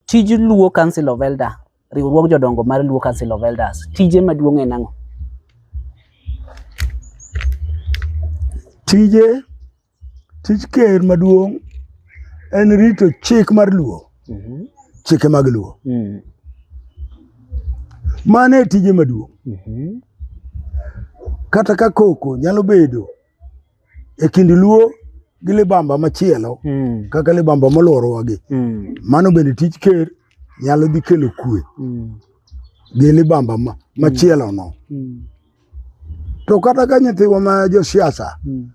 Tij Luo Council of Elder, riwruog jodongo mar Luo Council of Elders, tije maduong' en ang'o? Tije, tij ker maduong' en rito chik mar Luo, mm -hmm. chike mag Luo. Mm -hmm. Mano e tije maduong'. Mm -hmm. Kata ka koko nyalo bedo e kind luo gi libamba machielo mm. kaka libamba molworowagi mm. mano bende tij ker nyalo dhi kelo kwe mm. gi libamba mm. machielo no mm. to kata ka nyithiwa ma josiasa mm.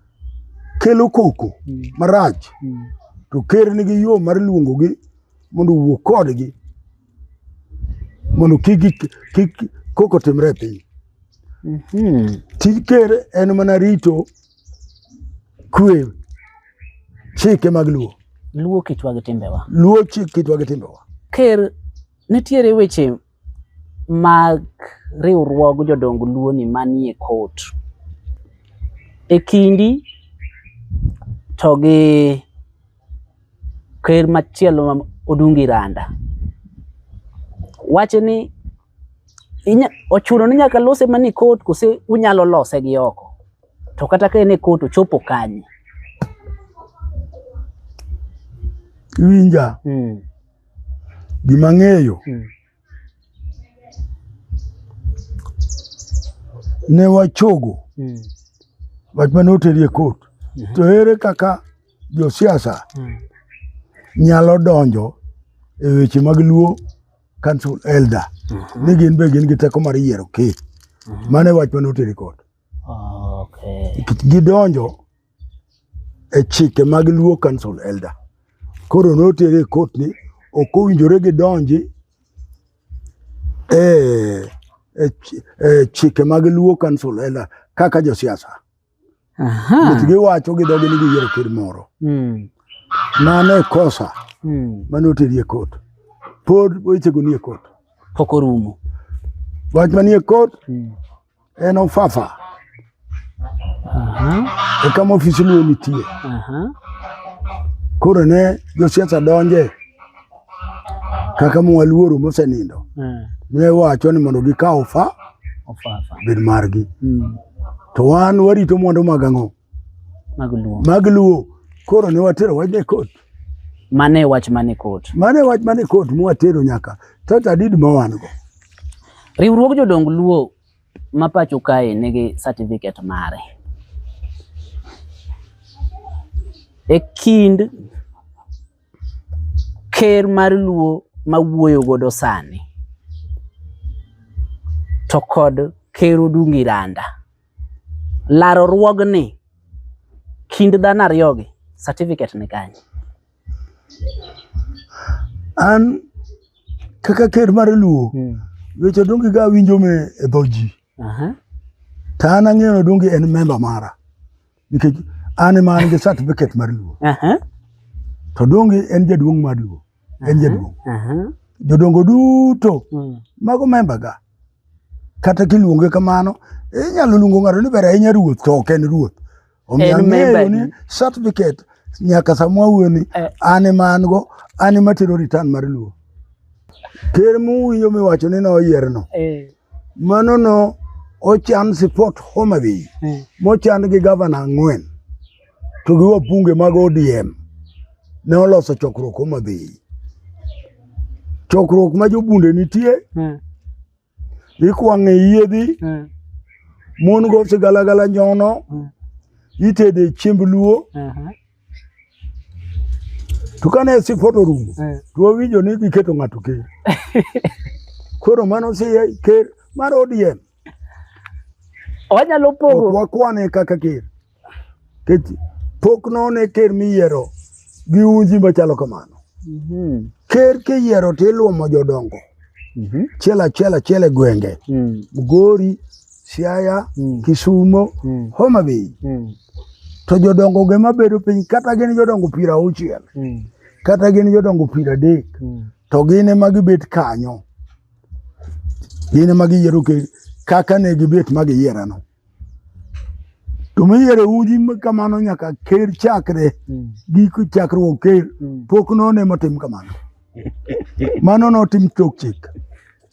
kelo koko mm. marach mm. to ker nigi yo mar luongogi mondo owuo kodgi mondo kik kik koko timre piny. Mhm. Tij ker en mana rito kwe chike mag luo. Luo kitwa gi timbewa. Luo chik kitwa gi timbewa. Ker nitiere weche mag riwruog jodong luo ni manie kot. E kindi to gi ker machielo ma Odungi Randa. Wache ni ochuno ni nyaka lose mani kot kose unyalo lose gi oko to kata ka en e kot ochopo kanye winja mm. gima ng'eyo mm. ne wachogo mm. wach mane oterie kot mm -hmm. to ere kaka josiasa hmm. nyalo donjo e weche mag luo council elder mhm. ni gin be gin gi teko mar yiero ke mhm. mane wach mane oteri kod gidonjo e chike mag luo council elder koro notere e kot ni ok owinjore gidonji e, e, e chike mag luo council elder kaka josiasa Nikech giwacho gi dhogi ni giyiero ker moro. Hmm. Mano e kosa hmm. mane oteri e kot. Pod wechego nie kot. Pok orumo. Wach manie kot hmm. en ofafa. E kama ofisi luo nitie. Koro ne josiasa donje. kaka mwaluoro mosenindo eh. ne wacho ni mondo gikaw fa bed margi hmm. to wan warito mwandu mag ang'o mag luo koro ne watero wachne kot mane wach mane kot mane wach mane kot mwatero nyaka tata did ma wan go riwruog jodong luo ma pacho kae nigi certificate mare e kind ker mar luo ma wuoyo godo sani to kod ker odungi randa laro ruogni kind dhano ariyogi certificate ni kanye an kaka ker mar luo hmm. weche odungi ga winjo me e dho ji to an ang'eyo odungi en memba mara nikech an ema an gi certificate mar luo to donge en jaduong' mar luo en jaduong' jodongo duto hmm. mago memba ga kata kiluonge kamano inyalo luongo ng'ato ni ber ahinya ruoth to ok en ruoth omiyo ang'eyo ni certificate nyaka samwa wuoni eh. an ema an go an ema tero return mar luo ker muwinjo miwacho ni noyierno eh. Mano no ochan sipot Homa Bay eh. mochan gi gavana ang'wen to gi wabunge mag ODM ne oloso chokruok Homa Bay. Chokruok ma jobunde nitie eh. ikwang'e yiedhi eh. mon go sigalagala nyono itede chiemb luo uh-huh. To kane sifono rumo, eh. to wawinjo ni giketo ng'ato ker. Koro mano si ker mar ODM. Wanyalo pogo. Ok wakwane kaka ker. Kech pok none ker miyiero gi unji machalo kamano. Mhm. Ker kiyiero to iluomo jodongo. mm -hmm. achiel achiel achiel e gwenge mm. Migori, Siaya, mm. Kisumo, mm. Homa Bay mm. to jodongo ge mabedo piny kata gin jodongo piero auchiel mm. kata gin jodongo piero adek mm. to gin ema gibet kanyo gin ema giyiero kaka ne gibet ma giyierano. to miyiero udi kamano nyaka ker chakre mm. giko chakruok ker mm. pok none motim kamano mano notim chok chik